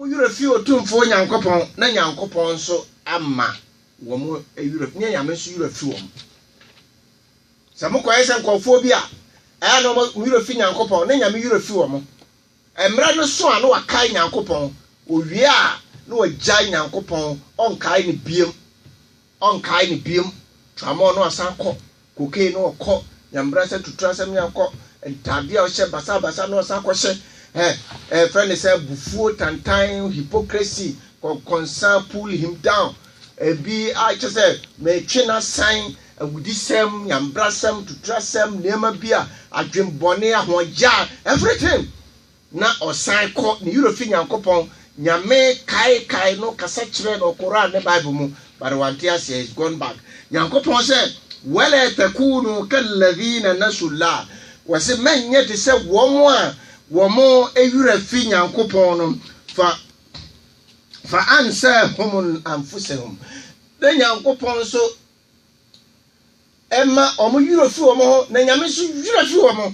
Mo werɛ fii Otumfoɔ Nyankopɔn, na Nyankopɔn nso ama wɔn werɛ, ne anyame nso werɛ fi wɔn. Sɛ mokɔyɛ sɛ nkurɔfoɔ bi a, ɛyɛ na wɔn werɛ fi Nyankopɔn, na anyame werɛ fi wɔn. Mmerɛ no so a na wɔakae Nyankopɔn, wɔwie a, na wɔagyae Nyankopɔn, wɔnkae no bio. Ɔnkae no biom, Tramɔɔ no asan kɔ, Cocaine no ɔkɔ, Nyambrasɛ tuturasɛm yɛ ɔkɔ, Ntaadeɛ a ɔhyɛ basabasa no ɔsan kɔ hyɛ, eh, Yɛfrɛ no sɛ abufuo, tantan, hypocrisy, kɔnkɔnsa, pull him down, Ebi a kyerɛ sɛ metwe no asan, Awudisɛm, Nyambrasɛm, tuturasɛm, Nneɛma bi a, adwenbɔne, ahoɔyaa, everything, Na ɔsan kɔ ne werɛ fi Nyankopɔn Nyame kae kae no kasa kyerɛɛ no Qur'aan ne Bible mu but wante aseɛ he's gone back Nyankopɔn sɛ wala takunu kalladhina nasullah wɔse mɛnyɛ te sɛ wɔn a wɔn werɛ fi Nyankopɔn no fa fa ansahum anfusahum na Nyankopɔn nso ɛma wɔn werɛ fi wɔn ho na Nyame nso werɛ fi wɔn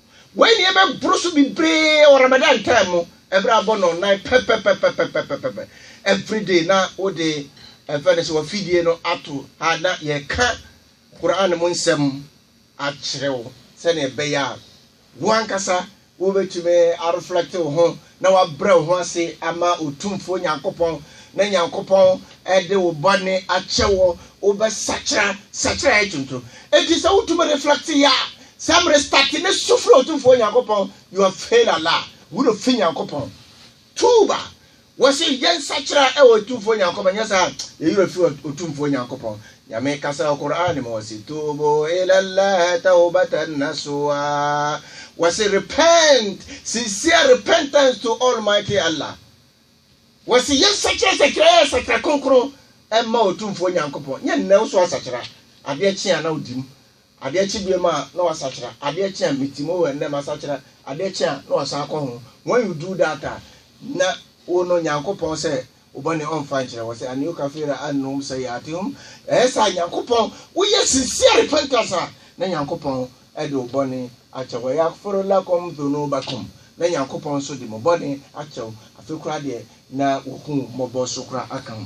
Wei na yɛbɛboro so bebree wɔ Ramadan time mu, ɛberɛ abɔ nnɔnnan pɛpɛpɛpɛpɛpɛpɛpɛ everyday na wode ɛfɛ no sɛ wafidie no ato ha na yɛka Quran mu nsɛm akyerɛ wo sɛdeɛ ɛbɛyɛ a wo ankasa wobɛtumi areflect wo ho na woabrɛ wo ho ase ama Otumfoɔ Nyankopɔn, na Nyankopɔn de wo bɔne akyɛ wo, wobɛsakyera sakyera a ɛyɛ tonto. Enti sɛ wotumi reflect yɛ a, sɛ mmere starte ne su frɛ Otumfoɔ Nyankopɔn, you have failed Allah, wura ofi Nyankopɔn. Tuuba! Wɔse yɛnsakyera wɔ Otumfoɔ Nyankopɔn, nyɛ saa a, yɛyera fi wɔ Otumfoɔ Nyankopɔn. Nyame kasa wɔ Qur'aan mu ɔse, Tuubu ila Allaah tawbatan nasuha, ɔse repent, sincere repentance to Almighty Allah, ɔse yɛnsakyera sakyera yɛ sakyera kronkron ɛmma Otumfoɔ Nyankopɔn, nyɛ nnɛ wo so asakyera, adeɛ kye a na wodim, Adeɛ kye biom a na wasakyera adeɛ kye a meti mo hɔ ɛnnɛ masakyera adeɛ kye a na wasan akɔ ho when you do that a na wo no Nyankopɔn sɛ wo bɔne ɔmfa nkyerɛ wɔ sɛ anio kafira anum sɛ yaate hom ɛyɛ saa Nyankopɔn wo yɛ sincere repentance a na Nyankopɔn ɛde wo bɔne akyɛ wɔ yakforo lakom dhono bakom na Nyankopɔn nso de mo bɔne akyɛ wo afe kora deɛ na wo hu mɔbɔ so kora aka ho.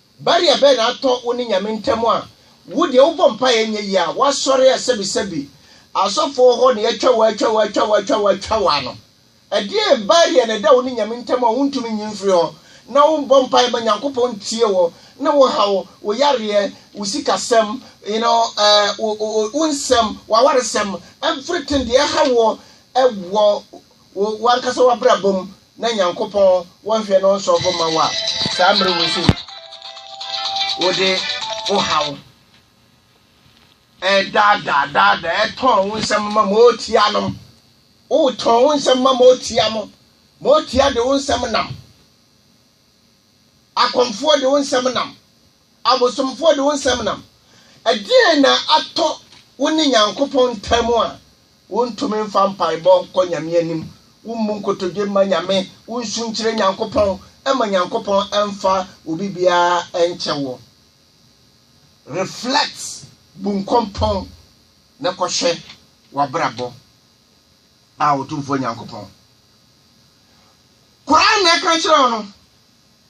Barrier bɛn na atɔ wo ne Nyame ntam a wo deɛ wobɔ mpaeɛ ɛnyɛ yie a woasɔre a sɛbi sɛbi asɔfo wɔ hɔ na yɛatwa wo atwa wo atwa wo atwa wo atwa wo ano? Ɛdeɛn barrier na ɛda wo ne Nyame ntam a wontumi nyi mfiri hɔ na wombɔ mpaeɛ ma Nyankopɔn ntie wo ne wo haw, wo yareɛ, wo sikasɛm, you know, eh, wo nsɛm, w'awaresɛm, everything deɛ ɛha woɔ wɔ wo wankasa w'abrabɔ mu na nyankopɔn wɔnhwɛ na ɔnsɔ bo ma wo a saa mmerɛ wɔ sei wode wo haw ɛdaadaa daadaa ɛtɔn wo nsɛm ma ma ɔtia nom wotɔn wo nsɛm ma ma ɔtia mo ma ɔtia de wo nsɛm nam akɔmfoɔ de wo nsɛm nam Abosomfoɔ de wo nsɛm nam. Ɛdeɛn na atɔ wo ne Nyankopɔn ntam a wontumi mfa mpaebɔ nkɔ Nyame anim, wommu nkotodwe mma Nyame, wonsu nkyerɛ Nyankopɔn, ɛma Nyankopɔn mfa obi biara nkyɛ wo? Reflect, bu nkɔmpɔn, na kɔhwɛ w'abrabɔ, a Otumfoɔ Nyankopɔn Koraa na ɛka kyerɛ wo no,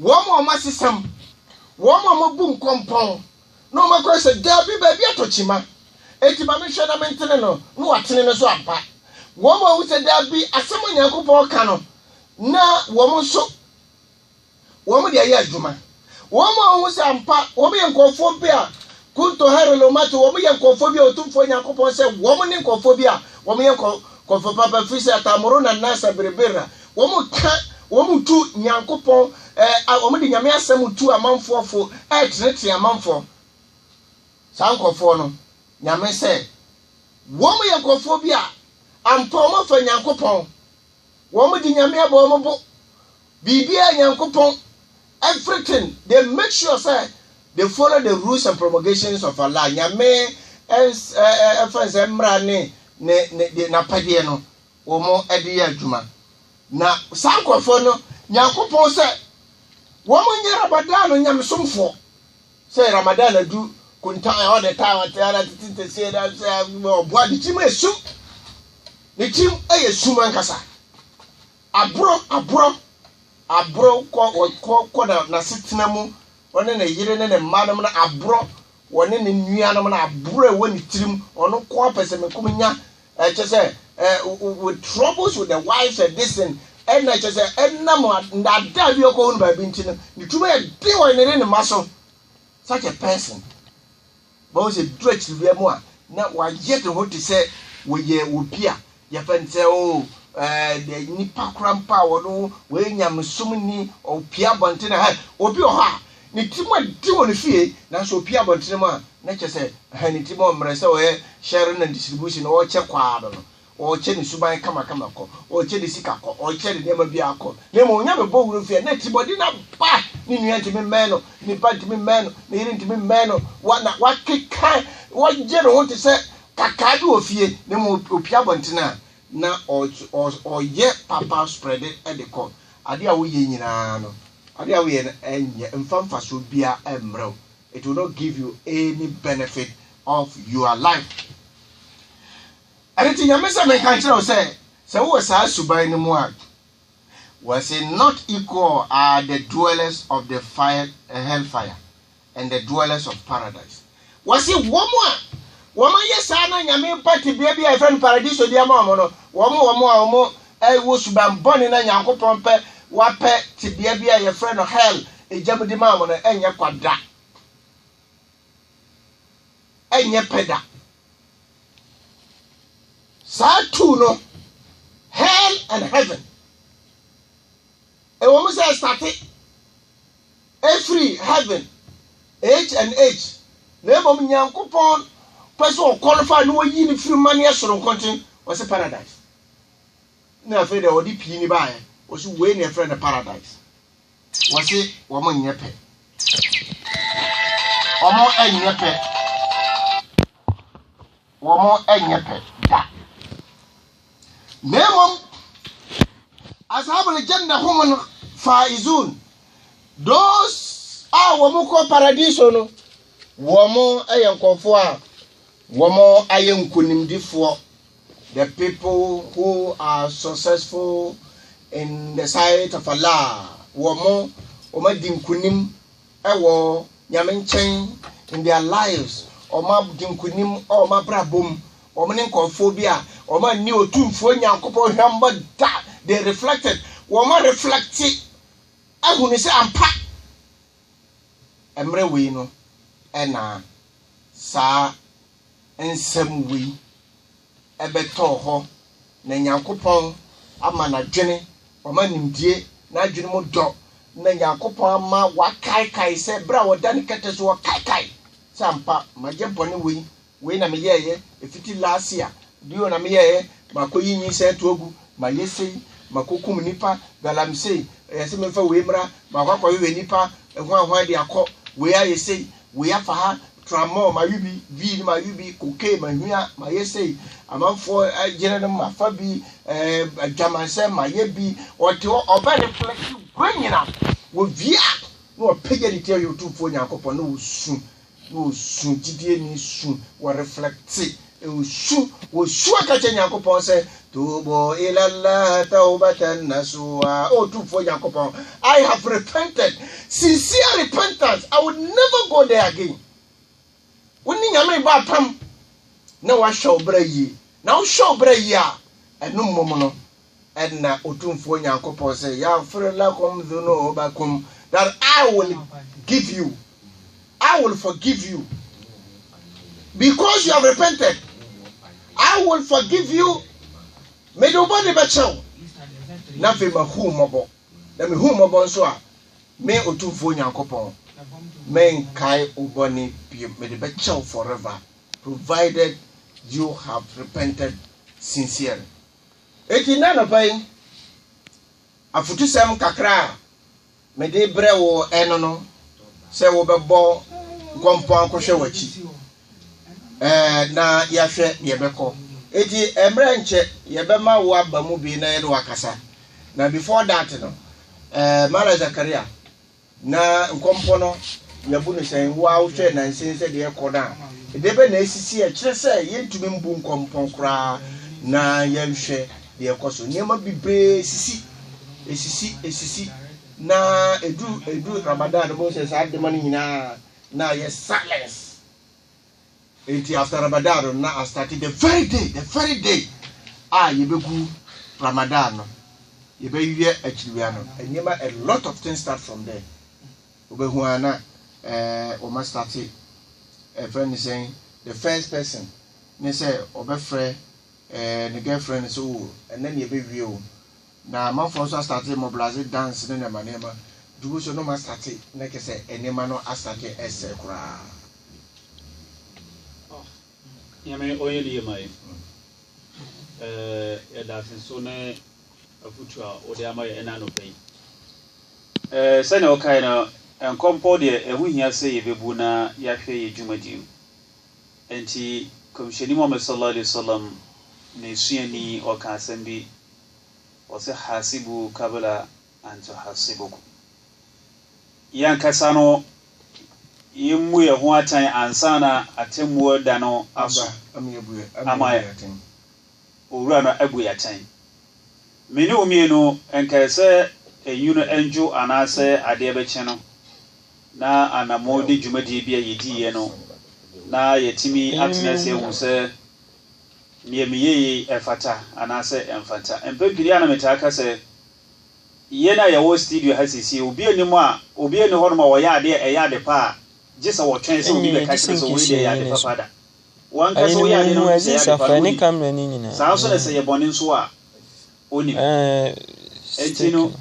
Wɔn a wɔasesam, wɔn a wɔabu nkɔmpɔn, na wɔakora sɛ, 'Dabi, baabi atɔ kyima, enti ma menhwɛ na mentene no, na wɔatene no so ampa. Wɔn a wɔhu sɛ, 'Dabi, asɛm a Onyankopɔn reka no na wɔn nso wɔde ayɛ adwuma. Wɔn a wɔhu sɛ ampa wɔyɛ nkurɔfoɔ bi a kunto hare lo mato, wɔyɛ nkurɔfoɔ bi a Otumfoɔ Onyankopɔn sɛ wɔn ne nkurɔfoɔ bi a wɔyɛ nkurɔfoɔ papa, ɛfiri sɛ ataamoro na nasa berebera. Wɔka, wɔtu Nyankopɔn, ɛɛ, wɔde Nyame asɛm tu amanfoɔ fo, ɛretenetene amanfoɔ. Saa nkorɔfoɔ no, Nyame sɛ, wɔn yɛ nkorɔfoɔ bi a, ampa wɔn afa Nyankopɔn, wɔn de Nyame abɔ wɔn bo, biribiara Nyankopɔn, everything, they make sure sɛ, they follow the rules and promulgations of Allah, Nyame ɛns, ɛɛ, ɛfɛn sɛ mmara ne, ne, ne, de, n'apɛdeɛ no, wɔde yɛ adwuma. Na saa nkurɔfoɔ no, Nyankopɔn sɛ wɔn nyɛ Ramadan no nyamesomfoɔ. Sɛ Ramadan adu, kunta all the time, ate ara tete nteseɛ na sɛ ɔboa ne kyim yɛ sum. Ne kyim yɛ sum ankasa. Aboro, aboro, aboro kɔ, kɔ, kɔ na n'asetena mu, ɔne ne yere ne ne mma nom no aboro, wɔne ne nuanom no aboro ɛwɔ ne tirim, ɔno ko apɛsɛmɛkum nya Eh, kyɛ sɛ eh, with troubles with the wives and this thing ɛna kyɛ sɛ ɛnam ndaadaa bi ɔkɔ hunu baabi nti no ne tuma yɛ den wɔ ne ne ne ma so such a person bɔn sɛ duro akyiri bia mu a na wayɛ ne ho te sɛ wɔyɛ obi a yɛfɛ ne sɛ o ɛɛ eh, nipa kora mpa a wɔn wɔyɛ nyamesom ni ɔpia abɔnten na ha obi wɔ hɔ a Ne tirim adi wɔ ne fie, nanso opue abɔntene mu a, na kyerɛ sɛ, ɛhɛn, ne tirim ɔmmrɛ sɛ ɔyɛ sharing and distribution, ɔrekyɛ kɔ ara no, ɔrekyɛ ne suban kamakama kɔ, ɔrekyɛ ne sika kɔ, ɔrekyɛ ne nneɛma biara kɔ. Na mmom, ɔnya no bɔ wura fie a, na atirimmɔden no aba, ne nua ntumi mmɛn no, ne ba ntumi mmɛn no, ne yere ntumi mmɛn no, wa, na wakeka, wagye ne ho te sɛ kakaa bi wɔ fie, na mmom opue abɔntene a, na ɔrekyɛ, ɔyɛ papa spread de kɔ. Ade a woyɛ nyinaa no, Ade a woyɛ no nyɛ mfa mfasoɔ biara mmerɛ wo, it will not give you any benefit of your life. Ɛno nti Nyame sɛ menka nkyerɛ wo sɛ, sɛ wowɔ saa suban no mu a, wɔse not equal are the dwellers of the fire, hell fire. and the dwellers of paradise. Wɔsi wɔn a wɔn ayɛ saa na nyame ba tebea bi a yɛfrɛ no paradiso de ama wɔn no, wɔn wɔn a wɔn ɛwɔ suban bɔne na nyankopɔn pɛ wapɛ tebea bi a yɛfrɛ no hell egya mu de ma wɔn no ɛnyɛ kwa da, ɛnyɛ pɛ da. Saa tu no hell and heaven ɛwɔ mu sɛ ɛstate. Ɛfiri heaven H and H na mmom Nyankopɔn pɛ sɛ ɔqualify na ɔyi no firi mmaneɛ soronko nti ɔse paradise na afei deɛ ɔde pii ni baeɛ ɔse wei na ɛfrɛ no paradise wɔse wɔn nyɛ pɛ wɔn nyɛ pɛ wɔnyɛ pɛ da na mmom asaabole gyɛnda ho mu no faa izun those a wɔn kɔ paradiso no wɔn yɛ nkɔfoɔ a wɔn ayɛ nkonimdifoɔ the people who are successful in the sight of Allah wɔn wɔn adi nkonim wɔ Nyame nkyɛn in their lives, wɔn agye nkunim wɔ wɔn abrabɔ mu, wɔn ne nkurɔfoɔ bi a wɔn anni Otumfoɔ Nyankopɔn hwammɔ da, they reflected, wɔn a reflecte ahunu sɛ ampa mmerɛ wei no ɛna saa nsɛm wei. bɛtɔɔ hɔ, na Nyankopɔn ama n'adwene, wama nimdie, n'adwene mu dɔ, na Nyankopɔn ama wakaekae sɛ berɛ a ɔda ne kɛtɛ so ɔkaekae sɛ ampa mayɛ bɔne wei, wei na meyɛɛyɛ ɛfiti last year, bio na meyɛɛyɛ makɔyi nyinsɛn to agu, mayɛ sei, makɔkum nnipa, galamsey, ɛyɛ sɛ memfa wei mmra, makɔ akɔhwehwɛ nnipa hwanhwan de akɔ, wei ayɛ sei, wei afa ha, tramɔɔ mawe bi, vii no mawe bi, kokee mahwia mayɛ sei, amanfoɔ yere no mafa bi, adwamansɛ mayɛ bi, ɔte hɔ ɔbɛ ne flɛkyi wei nyina wɔvia na wɔpɛgya ne ti ayɛ ɔtumfoɔ Nyankopɔn na wɔsu na wɔsu gyidie ne su wɔreflɛkte Wosu, wosu aka kyerɛ Nyankopɔn sɛ, Tubu ila Allah tawbatan nasuha. O Tumfoɔ Nyankopɔn, I have repented. Sincere repentance. I will never go there again. Wo ne Nyame bɔ apam na wahwɛ wo bra yie. Na wohwɛ wo bra yie a, ɛno mmom no, Ɛnna Otumfoɔ Nyankopɔn sɛ, Yɛafere lakum dhunubakum, that I will give you, I will forgive you, because you have repented, I will forgive you, mede wo bɔne bɛkyɛ wo, na afei mahu mmɔbɔ, na mehu mmɔbɔ nso a, me Otumfoɔ Nyankopɔn, menkae wo bɔne bio, mede bɛkyɛ wo forever, provided you have repented sincerely. Enti nnɛ anɔpa yi, afotusɛm kakra a mede rebrɛ wo ɛno no sɛ wobɛbɔ nkɔmpɔn akɔhwɛ w'akyi ɛɛ na yɛahwɛ deɛ ɛbɛkɔ. Enti mmerɛ nkyɛ yɛbɛma wo aba mu bi na yɛne wakasa. Na before that no, ɛɛ Mala Zakaria, Na nkɔmpɔ no, yɛbu no sɛn? Wo ara wohwɛɛ nnansa yi sɛdeɛ ɛrekɔ no a, ɛdeɛ bɛn na asisi? Ɛkyerɛ sɛ yɛntumi mbu nkɔmpɔ koraa na yɛnhwɛ deɛ ɛrekɔ so. Nneɛma bebree sisi, ɛsisi, ɛsisi, na ɛduru ɛduru Ramadan no, wobɛhu sɛ saa nneɛma no nyinaa na ayɛ silence. Enti after Ramadan no na astarte the very day the very day a yɛbɛgu Ramadan no yɛbɛyɛ akyiriwia no nneɛma a lot of things start from there wobɛhu a na eh, wɔn astarte ɛfrɛ ne sɛn the first person ne sɛ ɔbɛfrɛ eh, ne girlfriend no sɛ o oh, ɛnɛ ne yɛbɛwie o Na amanfoɔ nso astate mobilase dance ne nneɛma nneɛma, dubu nso nom astate na kyerɛ sɛ nneɛma no astate ɛresɛe koraa. Nyame ɔyɛ ne yie ma yɛn. Eh, yɛda ase nso ne afutuo a wode ama yɛn ɛna anɔpa yi. Eh, sɛnea wokae no, nkɔmpɔ deɛ ɛho hia sɛ yɛbɛbu na yɛahwɛ yɛn dwumadie mu. Enti, Kɔmhyɛni Muhammad sallallahu alaihi wasallam ne suani ɔkaa asɛm bi Ɔse hasibuu kabla an tuhasibukum. Yɛn ankasa no yɛmmu yɛn ho atɛn ansa na atemmuo da no aso ama Owura no abu yɛn atɛn. Me ne wo mmienu nkae sɛ enwunu ndwo anaasɛ adeɛ bɛkye no na anamo de dwumadie bi a yɛdiiɛ no na yɛatumi atena ase ahu sɛ Nea meyɛe yi, ɛfata anaasɛ ɛmfata? Mpɛn pii a na metaa ka sɛ, Yɛn a yɛwɔ stidio ha seesei, obi nni mu a, obiara nni hɔnom a ɔyɛ ade a ɛyɛ ade pa a gye sɛ wɔtwɛn sɛ obi bɛka kyerɛ sɛ wei deɛ ɛyɛ ade pa pa da. W'ankasa woyɛ adeɛ no wohu sɛ ɛyɛ ade pa no, wonim. Saa ara nso na sɛ ɛyɛ bɔne nso a, wonim. Enti no,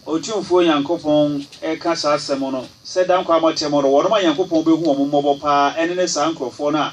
Otumfoɔ Nyankopɔn reka saa asɛm no sɛ, Da nkwa a moateɛ mo no, wɔnom a Nyankopɔn bɛhu wɔn mmɔbɔ pa ara ne ne saa nkurɔfoɔ no a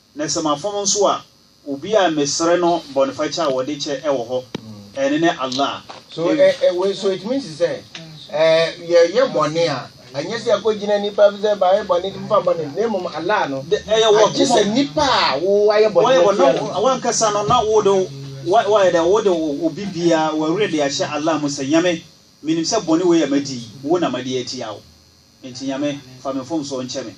Na sɛ mafom nso a, obi a mesrɛ no bɔnefakyɛ a wɔde kyɛ wɔ hɔ, ɛno ne Allah. So ɛ, wei so ɛtumi nsi sɛ ɛ, yɛyɛ bɔne a, ɛnyɛ sɛ yɛkɔgyina nnipa fi sɛ mayɛ bɔne nti mofa bɔne na mmom Allah no, agye sɛ nnipa a wo wayɛ bɔne no atua no ka. Wankasa no na wode wo, wa, wayɛ dɛ wode wo, obi biara, w'awerɛ de ahyɛ Allah mu sɛ, Nyame, menim sɛ bɔne wei a madi yi, wo na madi atia wo. Enti Nyame, fa me mfomsoɔ nkyɛ me.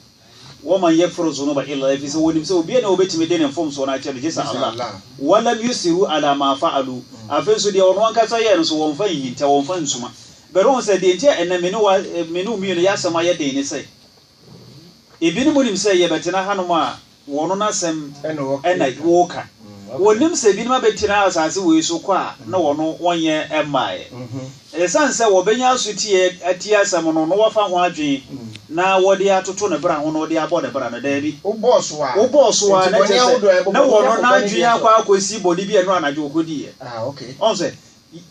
Wɔman yɛgfiru dzunuba illa ɛfiri sɛ wɔnim sɛ obiara nni hɔ a obetumi de ne mfomsoɔ no akyɛ no gyesɛ Allah. Walam yusiru ala ma fa'alu, afei nso deɛ wɔn ankasa yɛɛ no nso wɔmfa nhinta, wɔmfa nsuma. Bɛrɛ wɔn sɛ, deɛ nti a ɛnnɛ me ne wo, me ne wo mmienu yɛ asɛm ayɛ den ne sɛ, ebinom nim sɛ yɛbɛtena hanom a, Wɔn no asɛm na woka. Wɔnim sɛ binom abɛtena asase wei so kɔ a na wɔn no wɔnyɛ mmaeɛ. Ɛsiane sɛ wɔbɛnya asotie atie asɛm no na wɔafa ho adwene na wɔde atoto ne bra ho na wɔde abɔ ne bra no, daabi. Wobɔɔ so a. Wobɔɔ so a, na kyerɛ sɛ na wɔn no n'adwene akɔ akɔsi bɔne bi a ɛno anadwo ɔkɔdiiɛ. Ɔhu sɛ.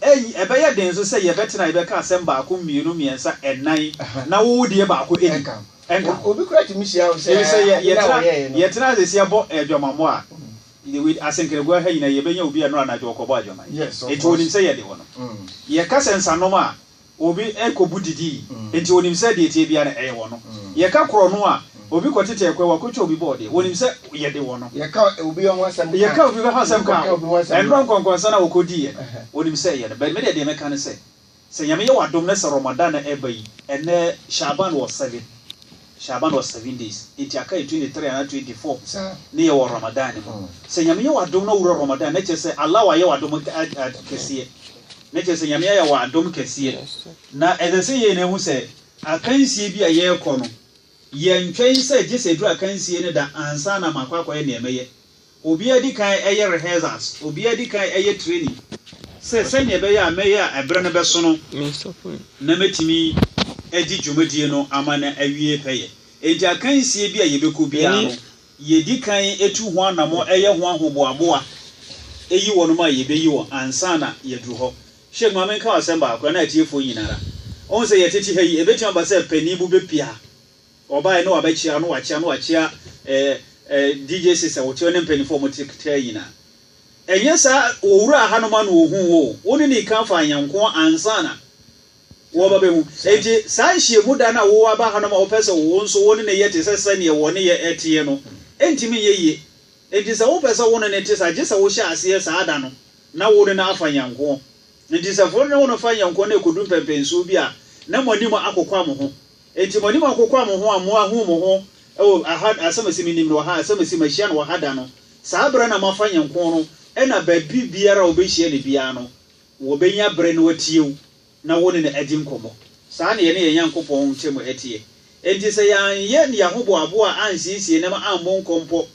Eye, ɛbɛyɛ den nso sɛ yɛbɛtena a yɛbɛka asɛm baako, mmienu, mmiɛnsa, nnan, na wo deɛ baako nni ho. Ɛnka ho. Efisɛ yɛ, yɛtena, yɛtena ase sɛ yɛbɔ aguamammɔ a, with asenkeregoa ha nyinaa, yɛbɛnya obi a ɛnnora anadwo ɔkɔbɔ aguaman. Enti wɔnim sɛ yɛde wɔn. Yɛka sɛ nsanom a, Obi rekɔbu didi, enti wɔnim sɛ deɛ ɛteɛ biara no, ɛyɛ wɔn. Yɛka korɔno a, obi kɔtete ɛkwan, wakɔtwa obi bɔɔdeɛ, wɔnim sɛ yɛde wɔn. Yɛka obi ho asɛm ka a, yɛka obi ho asɛm ka a, ɛnnora nkɔnkɔnsa no a wɔkɔdiiɛ no, wɔnim sɛ ɛyɛ no. But me deɛ, deɛ mɛka ne sɛ, sɛ Nyame yɛ w'adom na sɛ Ramadan ɛreba yi, ɛnnɛ Shaaban wɔ seven. Sha'ban was seven days, enti aka yɛ twenty three anaa twenty four ne yɛ wɔ Ramadan ne mu. Sɛ Nyame yɛ w'adom na wowura Ramadan na kyerɛ sɛ Allah wayɛ w'adom kɛseɛ, na kyerɛ sɛ Nyame ayɛ w'adom kɛseɛ. Na ɛsɛ sɛ yɛn ahu sɛ akansie bi a yɛrekɔ no, yɛntwɛn sɛ gye sɛ ɛduru akansie no da ansa na makɔ akɔyɛ nea mɛyɛ. Obiara di kan yɛ rehearsals, obiara di kan yɛ training sɛ sɛnea ɛbɛyɛ a mɛyɛ a ɛbere no bɛso no na mɛtumi adi dwumadie no ama no awie pɛyɛ. Enti akansie bi a yɛbɛkɔ biara no, yɛdi kan tu ho anamɔ yɛ ho ahoboaboa yi wɔnom a yɛbɛyi wɔn ansa na yɛaduru hɔ. Sheik, ma menka wo asɛm baako na atiefoɔ nyina ara, wohu sɛ yɛtete ha yi, ɛbɛtumi aba sɛ panin bo bɛpia Ɔbaeɛ ne wabɛkyea ne wakyea ne wakyea eh eh DJ Six a wɔte hɔ ne mpanimfoɔ a wɔte kete ha nyinaa. Ɛnyɛ saa wɔwuraa ha nom a na wɔhuu wo o. Wo ne ne kan faa yɛn nko ansa na wɔba bɛhu. Enti saa nhyiamu da no a woaba ha nom a wopɛ sɛ wo nso wo ne no yɛ te sɛ sɛdeɛ wɔ ne yɛ teɛ no, ɛntumi nyɛ yie. Enti sɛ wopɛ sɛ wo ne no te saa gye sɛ wohyɛ aseɛ saa da no na wo ne no afa yɛn nko. Enti sɛ wo ne no fa yɛn nko na ɛkɔdu mpɛmpɛnsoɔ bi a na mo anim akokwa mo ho. Enti mo anim akokwa mo ho a mo ahu mo ho wɔ ha, asɛm a ɛse me nim no wɔ ha, asɛm a ɛse mahyia no wɔ ha da no, saa berɛ na moafa nyɛ nko no, ɛna baabi biara a wɔbɛhyia no biara no, wɔbɛnya berɛ na wɔatie wo, na wo ne no adi nkɔmmɔ. Saa na yɛne yɛn Nyankopɔn ntam teɛ. Enti sɛ yɛanyɛ yɛn ahoboaboa ansiesie nam ammɔ nkɔmpɔ,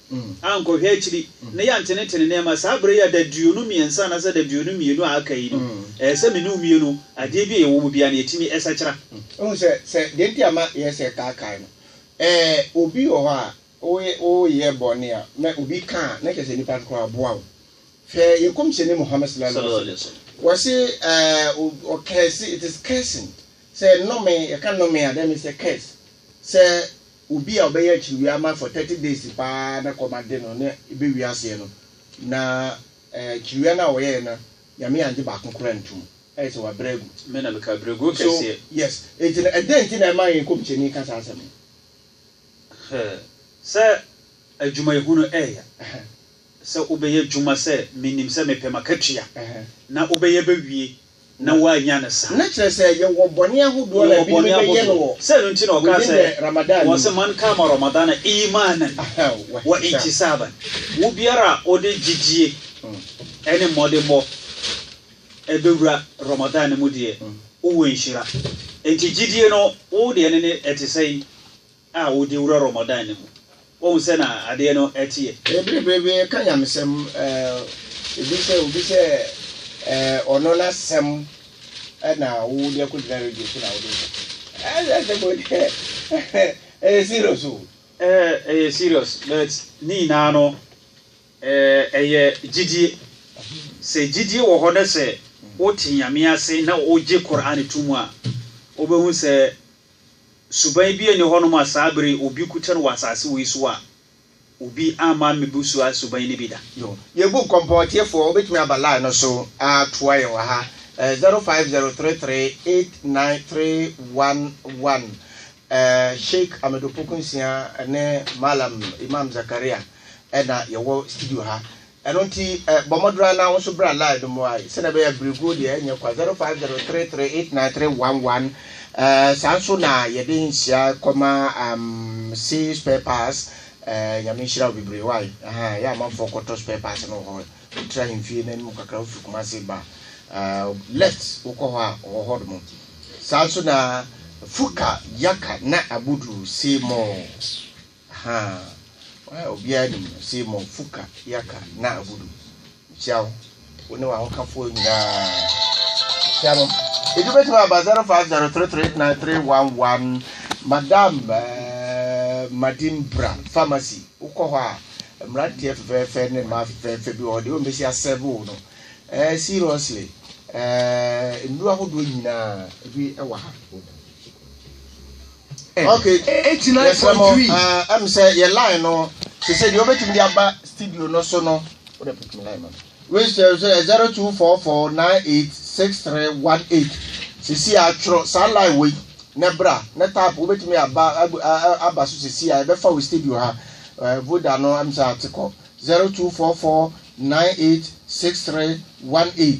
ankɔhwɛ akyiri na yɛantenetene nneɛma saa bere yi a daduonu mmiɛnsa anaasɛ daduonu mmienu a aka yi no, ɛyɛ sɛ me ne wo mmue no adeɛ bi a yɛwɔ mu biara no yɛtumi sakyera. Wohu sɛ, sɛ deɛ nti a ma ɛyɛ sɛ kaakae no, ɛɛ obi wɔ hɔ a woyɛ woyɛ bɔne a na obi ka a na kyerɛ sɛ nipa no koraa boa wo. Hwɛ yɛn kɔmhyɛni Muhammad sallallahu alaihi Sallallahu alaihi wa sallam. wasallam, wɔse ɛɛ o ɔkɛɛse, it is cursing, sɛ nnome, yɛka nnome a that means sɛ curse, sɛ Obi a ɔbɛyɛ akyiriwia ama for thirty days paa na kɔmande no na ebewie aseɛ no, na akyiriwia no a ɔyɛɛ no, Nyame angye baako koraa antum. Ayɛ sɛ wabrɛ agu. Me na meka brɛguo So, kɛseɛ. yes. Enti no, ɛdɛn nti na ɛma yɛn nkɔmhyɛni ka saa asɛm no? Hwɛ sɛ adwumayɛhunu ɛyɛ. Ɛhɛ. Sɛ wobɛyɛ adwuma sɛ menim sɛ mepɛ m'akatua, Ɛhɛ. na wobɛyɛ bɛwie na wɔannya no saa. Na kyerɛ sɛ yɛwɔ bɔne ahodoɔ a ebinom bɛyɛ no wɔ within the Ramadan no mu. Man kama Ramadana imanan wa ihtisaban, wobiara a ɔde gyidie ɛne mmɔdemmɔ ɛbɛwura Ramadan no mu deɛ, wowɔ nhyira. Enti gyidie no wo deɛ no ne ɛte sɛn? a wode wura Ramadan no mu. Woahu sɛ na adeɛ no teɛ? Ɛyɛ bereberebe, ɛka nyamesɛm. Ebi sɛ obi sɛ ɔno n'asɛm na wode akɔgyina radio so na wode Ɛyɛ asɛm o, ɛyɛ serious o. Ɛyɛ serious but ne nyinaa no ɛyɛ gyidie. Sɛ gyidie wɔ hɔ na sɛ wote Nyame ase na wogye Qur'aan to mu a, wobɛhu sɛ Suban bi nni hɔnom a saa bere yi obi ko kyɛ no wɔ asase wei so a obi amma ammebu saa suban no bi da. Yoo. Yɛn book Kɔmpɔn atiefoɔ, wobɛtumi aba line no so atoa yɛn wɔ ha, ɛɛ zero five zero three three eight nine three one one. Ɛɛ Sheik Amedo Pokunsia ne Mallam Imam Zakaria na yɛwɔ studio ha. Ɛno nti, bɔ mmɔdene ara na wo nso bra line no mu ae, sɛdeɛ ɛbɛyɛ a berɛguo deɛ ɛnyɛ kwa, 0503389311, saa nso na yɛde nhyira kɔma C spare parts, Nyame nhyira wo bebree wae, yɛ amanfoɔ kɔtɔ spare parts no wɔ hɔ, wo tra ahemfie no anim kakra, wo firi Kumasi ba left wo kɔ hɔ a ɔwɔ hɔ nom, saa nso na Fuka, Yaka na Abuduru, see more. Ahaa obiara nim no se mmɔnfo ka yaka na abudu mekyia wo wo ne w'ahokafoɔ nyinaa mekyia no edu bɛtumi aba zero five zero three three eight nine three one one madam ɛɛ madimbra pharmacy wokɔ hɔ a mmeranteɛ fɛfɛɛfɛ ne mmaa fɛfɛɛfɛ bi wɔ hɔ deɛ wɔn bɛsi asɛve wo no ɛɛ seriously ɛɛ nnuro ahodoɔ nyinaa ebi ɛwɔ ha. Okay. Yɛsrɛ mo, uh, ɛm sɛ yɛ line no, te sɛ deɛ wobɛtumi de aba studio no so no, wode pick me line ma register sɛ 0244986318 sisi a twerɛ saa line wei na bra na tap wobɛtumi aba aba so sisi a ɛbɛfa wo studio ha eh, voda no ɛm sɛ atekɔ 0244986318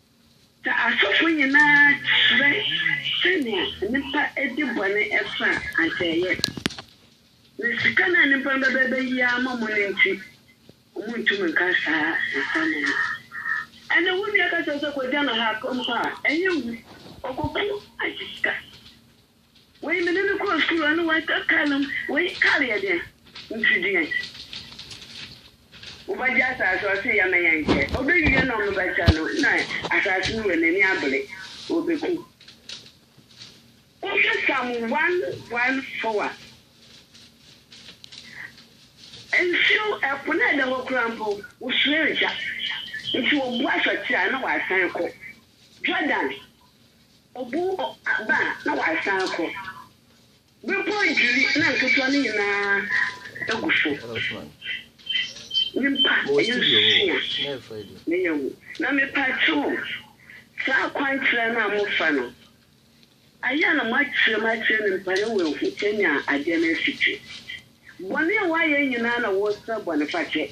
Sɛ asɔfo nyinaa kyerɛ sɛnea nnipa di bɔne fa a, anka ɛyɛ. Na sika no a nnipa no bɛba abeyi ama mo no nti, wɔrentumi nka saa nsɛm no. Ɛnna wo nua ka kyerɛ wo sɛ, 'Kogya no ha' mpo a, ɛnyɛ hu. Ɔkɔko agye sika. Wei me ne no kɔɔ sukuu ɛne wei tɔ kar nom wei kar yɛ deɛn nti deɛn wobɛgye asaase ɔse yɛ me yɛ nkyɛ ɔbɛwie na ɔmo bɛkyɛ no na asaase no wɔ n'ani abere ɔbɛku wohwɛ sam one one four a nsuo ɛpo na ɛda hɔ kura mpo wosua agya nti wɔboa sɔkye a na wasan kɔ Jordan Obu aba a, na wasan akɔ. Bepɔw adwiri na nketewa no nyinaa agu so. Nyimpa, ɛyɛ sua na ɛyɛ wu. Na mepakyɛw, saa kwankyerɛ no a mofa no, ayɛ a na moakyerɛ mu akyerɛ nyimpa na oehu sɛnea adeɛ no si tse. Bɔne a wɔayɛ nyinaa na wɔresrɛ bɔnefakyɛ.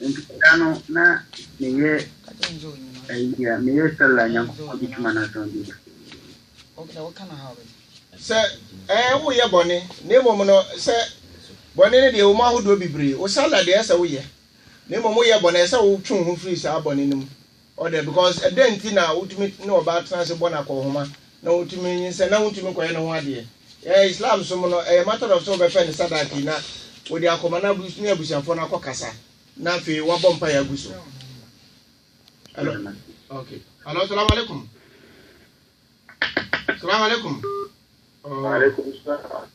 Nti da no na meyɛ ayi a meyɛ sɛla nyankopɔn de twuma no asɛm bi sɛ ɛɛ woyɛ bɔne na mmom no sɛ bɔne no deɛ wɔn ahodoɔ bebree wo sɛla deɛ ɛsɛ woyɛ na mmom woyɛ bɔne ɛsɛ wotwe wo ho firi saa bɔne no mu O dɛ, because ɛdɛn nti na wotumi ne ɔbaa tena ase bɔ no akɔnhoma na wotumi nyinsɛn na wontumi nkɔyɛ ne ho adeɛ? Ɛɛ, Islam som no, ɛyɛ matter of sɛ wobɛfɛ no sadaki na wode akɔma na abus ne abusuafoɔ no akɔkasa na afei wabɔ mpaeɛ agu so. Hello. Okay. Hello, salaam alaikum. Salaam alaikum. Oh. Alaikum salam.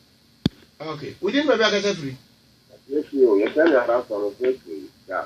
Okay. Within baabi akasa firi? Yes, you. Yes, I know. That's what I'm saying. Yeah.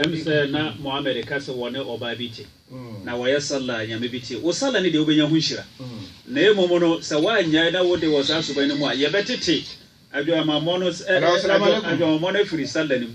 Ɛm sɛ na Muhammad ka sɛ wɔne ɔbaa bi te, na wɔyɛ Sallah a Nyame bi te. Wo Sallah no deɛ wobɛnya ho nhyira. Na mmom no, sɛ woannyae na wode wɔ saa suban no mu a, yɛbɛtete adwamammɔ no, adwamammɔ no afiri Sallah no mu.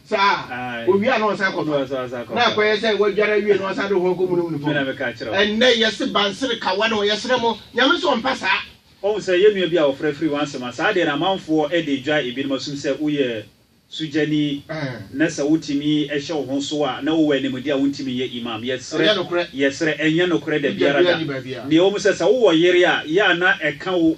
saa a, owie a na ɔsan kɔfa. Na akɔyɛ sɛ wadware awie na ɔsan de ho akɔmunum ne fam. Ɛnnɛ yɛse bansere kawa na ɔyɛsrɛ mo, Nyame nso ɔmpɛ saa. Woahu sɛ yɛn nua bi a wɔfrɛ firi Wansema, saa deɛ no amanfoɔ de regyae ebinom asom sɛ woyɛ sogyani na sɛ wotumi hyɛ wo ho so a na wowɔ animdeɛ a wontumi nyɛ Imam. Yɛsrɛ, yɛsrɛ, ɛnyɛ nokorɛ dabiara da. Nea ɛwɔ mu sɛ, sɛ wowɔ yere a, yɛ a na ɛka wo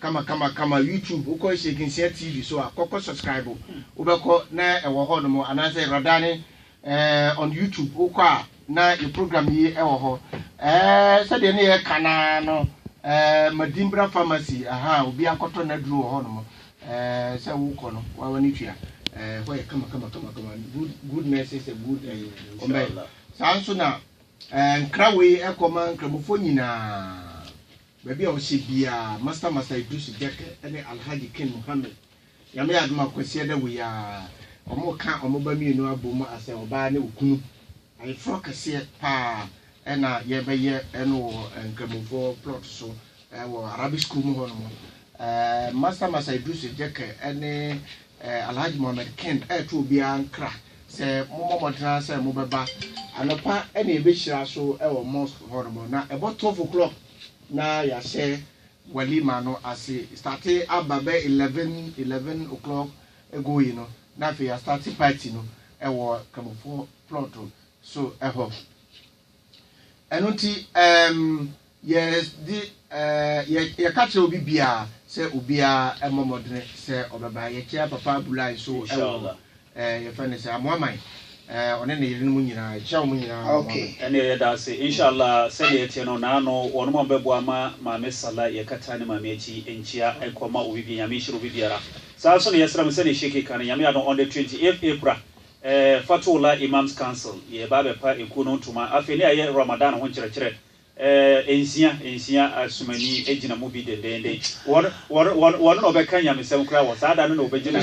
Kama kama kama YouTube wokɔ Sheik Nsia TV so a kɔkɔ subscribe wobɛkɔ na ɛwɔ hɔ nom anaasɛ Radani eh, on YouTube wokɔ a na yɛ program yi ɛwɔ hɔ eh, sɛdeɛ ne yɛ ka naa no eh, Madimbra pharmacy aha obi akɔtɔ n'aduro wɔ hɔ nom eh, sɛ wokɔ no wawa ne tua eh, hɔ yɛ kama kama kama kama good good nurses a good eh, ɔmɛ saa nso na eh, nkra wei ɛkɔ ma nkramofoɔ nyinaa Baabi a wɔhyɛ biaa Master Master Idrisu Jek ne Alhaji King Mohammed Nyame adom a Kwasiada wei aa wɔn ka wɔn ba mmienu abom asɛ ɔbaa ne okunu Ayeforɔ kɛseɛ paa na yɛ bɛ yɛ no wɔ Nkramofoɔ plot so wɔ Arabic school mu hɔ nom Master Master Idrisu Jek ne Alhaji Mohammed King reto obiaa nkra Sɛ mobɔ mmɔden ara sɛ mobɛba anɔpa na yɛbɛhyira so wɔ mosque hɔ nom na ɛbɔ twelve o'clock na yɛahyɛ walima no ase starte aba bɛ eleven eleven o'clock going no na afei yɛastarte party no wɔ Kramofoɔ plot so hɔ. Ɛno nti, ɛɛm, yɛde, ɛɛ, yɛka kyerɛ obi biara sɛ obiara mmɔ mmɔdene sɛ ɔbɛba. Yɛkyia Papa Abulai nso wɔ, ɛɛ, yɛfrɛ no sɛ Amoaman, ɛɛ, ɔne ne yerenom nyinaa, yɛkyia wɔn nyinaa wɔ Amoaman. Ɛnneɛ yɛda ase. Inshallah, sɛdeɛ ɛteɛ no, naano wɔnom a wɔbɛboa ma Maame Salah, yɛkata ne Maame akyi nkyia nkɔma obi biara. Nyame nhyira obi biara. Saa ara nso na yɛsrɛ mo, sɛdeɛ Sheikh ka no, Nyame adom, on the twenty eighth April, Eh, Fathoullah Imams Council yɛ ba abɛpa ekuo no ntoma afei ne ayɛ Ramadan ho nkyerɛkyerɛ eh, nsia nsia asumani gyina mu bi dendeenden. Wɔn, wɔn, wɔn, wɔn na wɔbɛka nyamesɛm koraa wɔ saa da no na wɔbɛgyina.